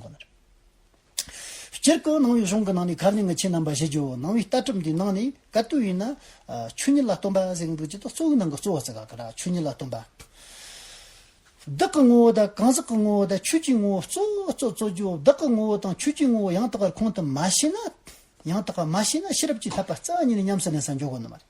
ཁོ་ནར། སྤྱིར་སྐུ་སྣང་བའི་གཞུང་གི་ནང་ནས་གར་གླིང་གི་ཆེ་རྣམ་པ་བཞི་ཇོ་བོ་སྣང་བའི་ལྟ་གྲུབ་འདིའི་ནང་ནས་ག་དུས་ཡིན་ན། ཆོས་ཉིད་ལ་སྟོན་པ་གཟེངས་བསྟོད་ཀྱི་ཏོག་གཙོ་བོའི་ནང་གི་གཙོ་བོ་ཟེར་ག་གི་ར་ཆོས་ཉིད་ལ་སྟོན་པ། བདག་གི་ངོ་བོ་དང་གང་ཟག་གི་ངོ་བོ་དང་ཆོས་ཀྱི་ངོ་བོ་གཙོ་བོ་གཙོ་གཙོ་ཇོ་བོ་བདག་གི་ངོ་བོ་དང་ཆོས་ཀྱི་ངོ་བོ་ཡང་དག་པར་ཁོང་དུ་མ་ཤེས་ན། ཡང་དག་པར་མ་ཤེས་ན་ཤེས་རབ་ཀྱི་ཐབས་པ་རྩ་གཉིས་ནས་ཉམས་སུ་ལེན་སར་འཇོག་གི་ནི་མ་རེད།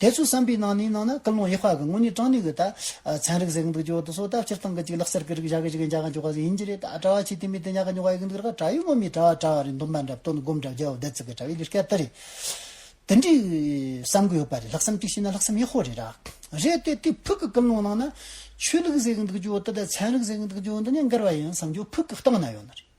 དེ་ཚོའི་བསམ་པའི་ནང་ནས་ནང་ན་སྐུལ་སློང་ཡེ་ཤུ་གི་ངོ་ནས་དྲངས་ནས་གི་ད་ཚན་རིག་ཟེར་གི་འདུག་ཇོ་དུ་སོ་ད་ཕྱིར་བཏང་གི་ཅིག་ལག་སར་གི་རིག་བཞག་གི་ཅིག་འཇག་གི་འཇུག་ག་ཟེ་ཡིན་གྱི་རེད་ད་གྲྭ་བ་ཆེ་དེ་མི་དེ་ཉག་གི་ཉུག་ག་ཡི་གི་འདུག་རེད་ག་གྲྭ་ཡུལ་མོ་མི་གྲྭ་བ་གྲྭ་བ་རེད་འདུག་མ་འདྲ་བུ་དོ་ནི་སྒོམ་གྲྭ་བརྒྱ་བོ་བདལ་ཚུག་གི་གྲྭ་བའི་ལུས་སྐལ་ད་རེད་དེ་འདྲའི་བསམ་གི་ཡོད་པ་རེད་ལྷག་བསམ་ཅིག་ཤེས་ན་ལྷག་བསམ་ཡེ་ཤུ་རེད་ར་རེད་དེ་དེ་ཕུག་གི་སྐུལ་སློང་ནང་ན་ཆོས་ལུགས་ཟེར་གི་འདུག་ཇོ་དུ་ད་ཚན་རིག་ཟེར་གི་འདུག་ཇོ་འདི་ནས་འགལ་བ་ཡིན་བསམ་ཇོ་ཕུག་གི་སྟེང་ན་ཡོད་ན་རེད།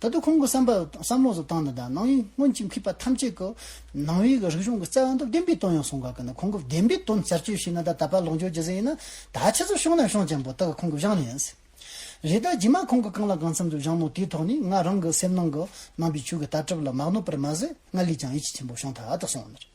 ད་དུང་ཁོང་གི་བསམ་པ་དང་བསམ་བློ་སོགས་ཏང་ནི་དང་ནང་མི་སྔོན་གྱི་མཁས་པ་ཐམས་ཅད་ཀྱི་ནང་བའི་རིག་གཞུང་གི་རྩ་བ་འདི་བདེན་པའི་དོན་ཡང་གསུང་ག་གི་ནི་ཁོང་གི་བདེན་པའི་དོན་གསར་བཅོས་བྱས་ན་ད་ད་པ་ལོག་འཇོག་བགྱི་ཟིན་ཡིན་ན་ད་ཁྱེད་ཚོ་ཤོང་ན་ཤོང་ཅན་པོ་ད་གི་ཁོང་གི་བཞག་ནི་ཡིན། རེད་ད་རྗེས་མ་ཁོང་གི་གང་ལ་གང་འཚམས་འདུག་བཞག་ནོ་དེའི་ཐོག་ནས་ང་རང་གི་སེམས་ནང་གི་ནང་པའི་ཆོས་གི་ལྟ་གྲུབ་ལ་མ་གནོད་པར་མ་ཟད་ང་ལས་ཀྱང་ཡིད་ཆེས་ཆེན་པོ་བྱུང་ད་ད་སོང་ནི་རེད།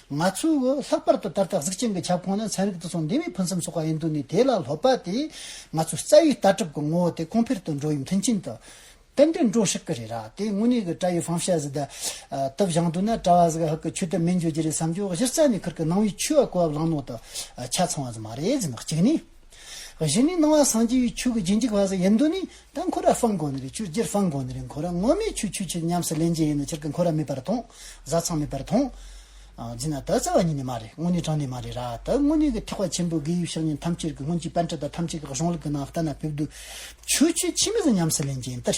ང་ཚོས་ལྷག་པར་དུ་ད་ལྟ་གཟུགས་ཅན་གྱི་ཁྱབ་ཁོངས་ནས་ཚན་རིག་དུ་སོང་འདས་པའི་ཕུན་སུམ་ཚོགས་པ་ཡིན་འདུག་ནས་དེ་ལ་སློབ་པ་དེས་ང་ཚོའི་རྩ་བའི་ལྟ་གྲུབ་ཀྱི་ངོ་བོ་དེ་གོང་འཕེལ་དུ་འགྲོ་བའི་མཐུན་རྐྱེན་དུ་གཏན་འདུན་འགྲོ་སྲིད་ཀྱི་རེད་ར་དེ་དངོས་གནས་ཀྱི་བཀྲ་ཡི་ཧྥང་ཤཱ་ཟི་དེ་དག་བཞེངས་འདུག་ན་བཀྲ་བྷ་ཟི་ག་ཧག་གི་ཆོས་དེ་མེད་འགྱུར་གྱི་རེད་བསམ་རྒྱུ་གཞི་རྩ་ནས་ཁུར་གི་ནང་བའི་ཆོས་བཀོད་བབ་ལང་ནོག་དུ་ཆ་ཚང་བ་ཙམ་མ་རེད་ཟེར་ན་གཅིག་ནས། བཞི་ནི་སྣང་བ་སངས་རྒྱས་པའི་ཆོས་ཀྱི་རྗེས་འཇུག་བ་ཟེར་ཡིན་དོན་ནི། ད་འཁོར་བ་སྤང་དགོས་ནི་རེད་ཆུ་སྒྱེར་སྤང་དགོས་ནི་རེད་འཁོར་བ་དངོས་མེད་ཆུ་ཆུ་ཆུ་ཉམས་སུ་ལེན་རྒྱུ་ཡིན་ནི་ཕྱིར་གྱི་འཁོར་བ་མེད་པར་མཐོང། བཟའ་ཚང་མེད་པར་མཐོང། སྦྱིན་ན་དག་བཙལ་བ་ཉིད་ནས་མ་རེད་དངོས་གནས་དྲང་གནས་མ་རེད་ར་ད་དངོས་གནས་ཀྱི་ཐེག་པ་ཆེན་པོའི་དགེ་དབྱིབས་ཤེར་ཉེན་ཐམས་ཅད་ཀྱི་སྔོན་གྱི་དཔལ་འཕྲུལ་དང་ཐམས་ཅད་ཀྱི་གཞུང་ལུགས་ཀྱི་ནང་ལྟ་ན་ཕེབས་དུས། ཆུ་ཆུ་ཕྱི་མི་ཟེར་ཉམས་སུ་ལེན་རྒྱུ་ཡིན་ཏེ།